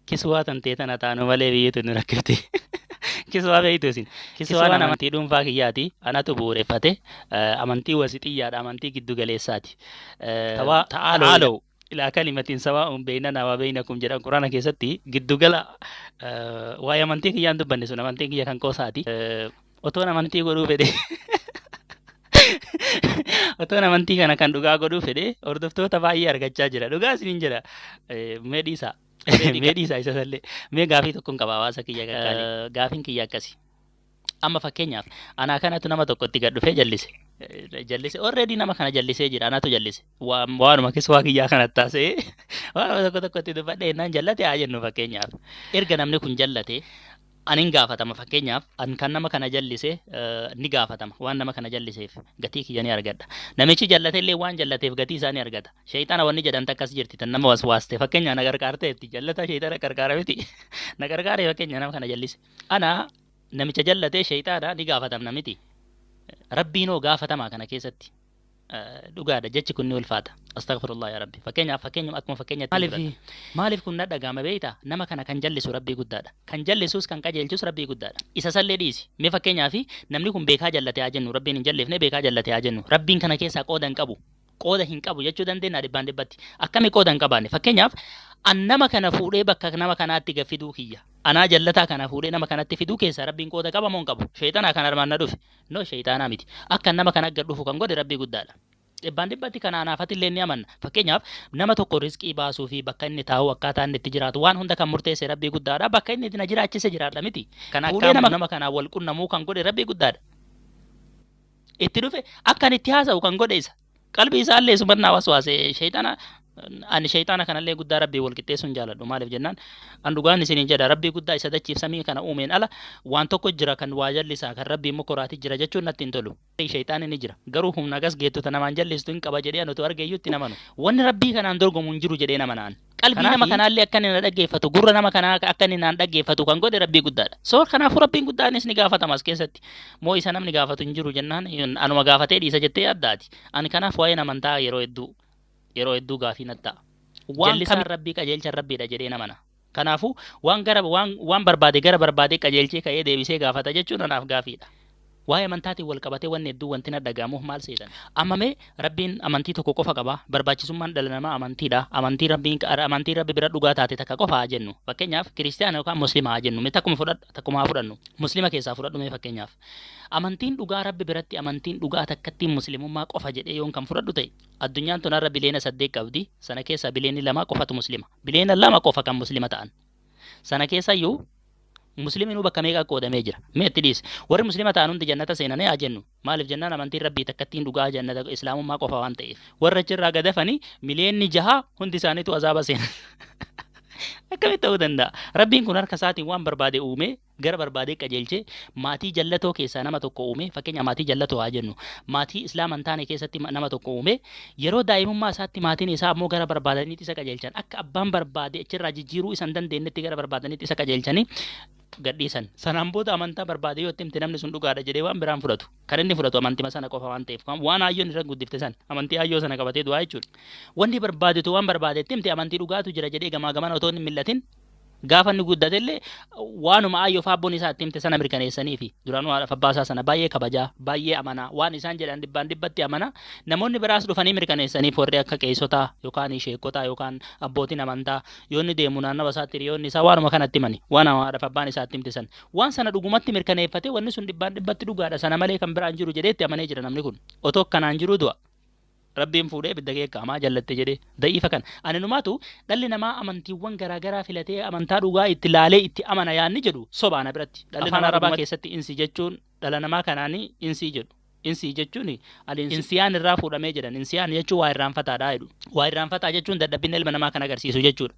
Kiswaa tantee tana taanu malee biyyi tun rakkifti. Kiswaa beektu isin. Kiswaan amantii dhuunfaa kiyyaati. Anatu bu'uureffate. Amantii wasixiyyaadha. Amantii giddu galeessaati. Tawaa ta'aalow ilaa kalimatiin sawaa'uun beeynanaa waa beeynakum jedhan quraana keessatti giddugala waa'ee amantii kiyyaan dubbanne sun amantiin kiyya kan qoosaati. Otoon amantii godhuu fedhe. Otoon amantii kana kan dhugaa godhuu fedhe hordoftoota baay'ee argachaa jira. Dhugaa isiniin jedha. Eh, Mee dhiisaa. Mee dhiisaa isa sallee. Mee gaafii tokkoon qaba hawaasa kiyya qaqqaalee. Eh, Gaafiin kiyya akkasi. Amma fakkeenyaaf anaa kanatu nama tokkotti gad dhufee jallise. Eh, Jallise already nama kana jallisee jira anatu jallise. Waa- Waanuma keessa waa kiyyaa kana taasee waanuma tokko tokkotti dubbadhee naan jallate haa jennu fakkeenyaaf. Erga namni kun jallate An in gaafatama fakkeenyaaf an kan nama kana jallise ni gaafatama waan nama kana jalliseef gatii kiyya ni argadha namichi jallate illee waan jallateef gatii isaa ni argata shayxana wanni jedhan takkas jirti tan nama waswaaste fakkeenyaa na qarqaarteetti jallataa shayxana qarqaara miti na qarqaaree fakkeenyaa nama kana jallise ana namicha jallatee shayxaana ni gaafatamna miti rabbiinoo gaafatamaa kana keessatti dhugaadha jechi kun ni ulfaata astaghfirullah ya rabbi fakkeenyaaf fakkeenyuma akkuma fakkeenyatti maaliif maaliif kun na dhaga'ama beeyta nama kana kan jallisu rabbii guddaadha kan jallisuus kan qajeelchus rabbii guddaadha isa sallee dhiisi mee fakkeenyaaf namni kun beekaa jallate haa jennu rabbiin hin jalleefne beekaa jallate haa jennu rabbiin kana keessaa qooda hin qabu qooda hin qabu jechuu dandeenya dhibbaan dhibbatti akkami qooda hin qabaanne fakkeenyaaf an nama kana fuudhee bakka nama kanaatti gaffiduu kiyya anaa jallataa kana fuudhee nama kanatti fiduu keessaa rabbiin qooda qaba moo hin qabu sheexanaa kan armaan na dhufe No sheyxaanaa miti. Akkan nama kana gad dhufu kan godhe Rabbii guddaadha. Dhibbaan dhibbatti kana anaaf atilleen ni amanna. Fakkeenyaaf, nama tokko rizqii baasuu fi bakka inni taa'u, akkaataa inni itti jiraatu, waan hunda kan murteesse Rabbii guddaadha. Bakka inni na jiraachise jiraadha miti. Kan akka nama kanaan wal qunnamuu kan godhe Rabbii guddaadha. Itti dhufe akka ani itti haasa'u kan godhe isa. qalbii isaallee isuman naa waswaase shayxana ani shayxaana kanallee guddaa rabbii wal qixxeessuun jaaladhu maaliif jennaan an dhugaan isiniin jedha rabbii guddaa isa dachiif samii kana uumeen ala waan tokko jira kan waa jallisaa kan rabbii immoo koraati jira jechuun natti hin tolu shayxaani ni jira garuu humna gas geettota namaan jallistu hin qaba jedhee an utuu argeeyyuu itti namanu wanni rabbii kanaan dorgomu hin jiru jedhee nama naan Qalbii nama Kanaafi- kanaallee akka inni na dhaggeeffatu, gurra nama kanaa akka inni naan dhaggeeffatu kan godhe Rabbii guddaadha. So kanaafuu Rabbiin guddaanis ni gaafatama as keessatti. Moo isa namni gaafatu hin jiru jennaan hin- anuma gaafatee dhiisa jettee yaaddaati. Ani kanaaf waa'een amantaa yeroo hedduu yeroo hedduu gaafii natti ta'a. Waan Jallisaan kami- Rabbii qajeelchan Rabbiidha jedhee namana. Kanaafuu waan gara waan waan barbaade gara barbaadee qajeelchee ka'ee deebisee gaafata jechuun anaaf gaafiidha. Waa'ee amantaatiin wal qabatee wanni hedduun wanti na dhaga'amuuf maal seetan? Amma mee, Rabbiin amantii tokko qofa qaba, barbaachisummaan dhala namaa amantiidha, amantiin Rabbiin qa, amantiin Rabbi bira dhugaa taate takka qofa haa jennu. Fakkeenyaaf, Kiristiyaana yookaan Muslima haa jennu. Mee takkuma fudhadhu, takkuma haa fudhannu. Muslima keessaa fudhadhu mee fakkeenyaaf. Amantiin dhugaa Rabbi biratti amantiin dhugaa takkattiin Muslimummaa qofa jedhee yoon kan fudhadhu ta'e, addunyaan tun har'a biliyeena saddeet qabdi, sana keessaa biliyeeni lama qofatu Muslima. Biliyeena lama qofa kan Muslima ta'an. Sana keessayyuu musliminuu bakka meeqa qoodamee jira. Mee itti dhiisi. Warri muslima ta'an hundi jannata seenanii haa jennu. Maaliif jennaan amantiin rabbii takkattiin dhugaa jannata islaamummaa qofa waan ta'eef. Warra achirraa gadafanii miliyeenni jaha hundi isaaniitu azaaba seenan. Akkamitti ta'uu danda'a? Rabbiin kun harka isaatiin waan barbaade uumee gara barbaadee qajeelchee maatii jallatoo keessaa nama tokko uumee fakkeenyaa maatii jallatoo haa jennu maatii islaama hin taane keessatti nama tokko uumee yeroo daa'imummaa isaatti maatiin isaa ammoo gara barbaadaniitti isa qajeelchan akka abbaan barbaade achirraa jijjiiruu isa hin dandeenyetti gara barbaadaniitti isa qajeelchanii gadhiisan. Sanaan booda amantaa barbaade yoo itti himte namni sun dhugaadha jedhee waan biraan fudhatu. Kan inni fudhatu amantima sana qofa waan ta'eef waan haayyoon irra guddifte san amantii haayyoo sana qabatee du'aa jechuudha. Wanni barbaadetu waan barbaade itti himte amantii dhugaatu jira jedhee gamaa gamana otoo hin millatin Gaafa inni guddate illee waanuma aayyoof aabboon isaa itti himte sana mirkaneessanii fi duraanuu haadhaaf abbaa isaa sana baay'ee kabajaa, baay'ee amanaa, waan isaan jedhan dhibbaan dhibbatti amanaa, namoonni biraas dhufanii mirkaneessaniif warri akka qeesotaa yookaan sheekotaa yookaan abbootiin amantaa yoo inni deemu naannawa isaatti hiriyoonni isaa waanuma kana itti himani. Waan haadhaaf abbaan isaa itti himte sana. Waan sana dhugumatti mirkaneeffatee wanni sun dhibbaan dhibbatti dhugaadha sana malee kan biraan jiru jedhee itti amanee jira namni kun. Otoo akkanaan jiruu du'a. Rabbiin fuudhee ibidda keekka amaa jallatte jedhee. Da'iifa kana. Aninumaatu dhalli namaa amantiiwwan garaa garaa filatee amantaa dhugaa itti laalee itti amana yaanni jedhu sobaa na biratti. Dhalli Afaan namaa Arabaa dhugumatti. keessatti insi jechuun dhala namaa kanaani insii jedhu. Insii jechuun al-insi. Insiyaan irraa fuudhamee jedhan. Insiyaan jechuun waa irraanfataadha jedhu. Waa irraanfataa jechuun dadhabbinna ilma namaa kan agarsiisu jechuudha.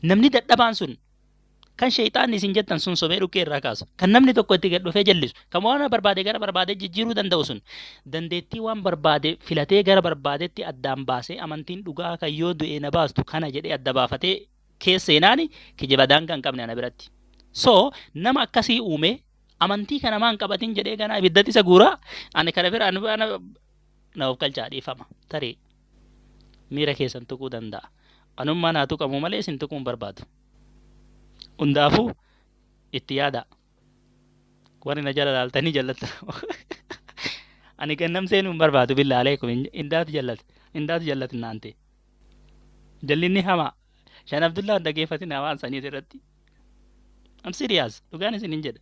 Namni dadhabaan sun Kan sheeyxaanni isin jettan sun sobee dhukkee irraa kaasu. Kan namni tokko itti gad dhufee jallisu. Kan waan barbaade gara barbaadee jijjiiruu danda'u sun. Dandeettii waan barbaade filatee gara barbaadetti addaan baasee amantiin dhugaa kan yoo du'ee na baastu kana jedhee adda baafatee keessa seenaani kijiba daangaa hin qabne ana biratti. So nama akkasii uumee amantii kana maan qabatin jedhee ganaa ibiddatti isa guuraa ani kana bira ani na of galchaa dhiifama tarii. miira keessan tuquu danda'a. Anummaan haa tuqamu malee isin tuquu hin barbaadu. Hundaafuu itti yaadaa. Warri na jala laaltanii jallattan. Ani gannam seenuu hin barbaadu billaa aleekum indaatu jallate indaatu jallate naan ta'e. Jallinni hamaa. Shan Abdullaa hin dhageeffatin hawaan saniis irratti. I'm serious. Dhugaan isin hin jedha.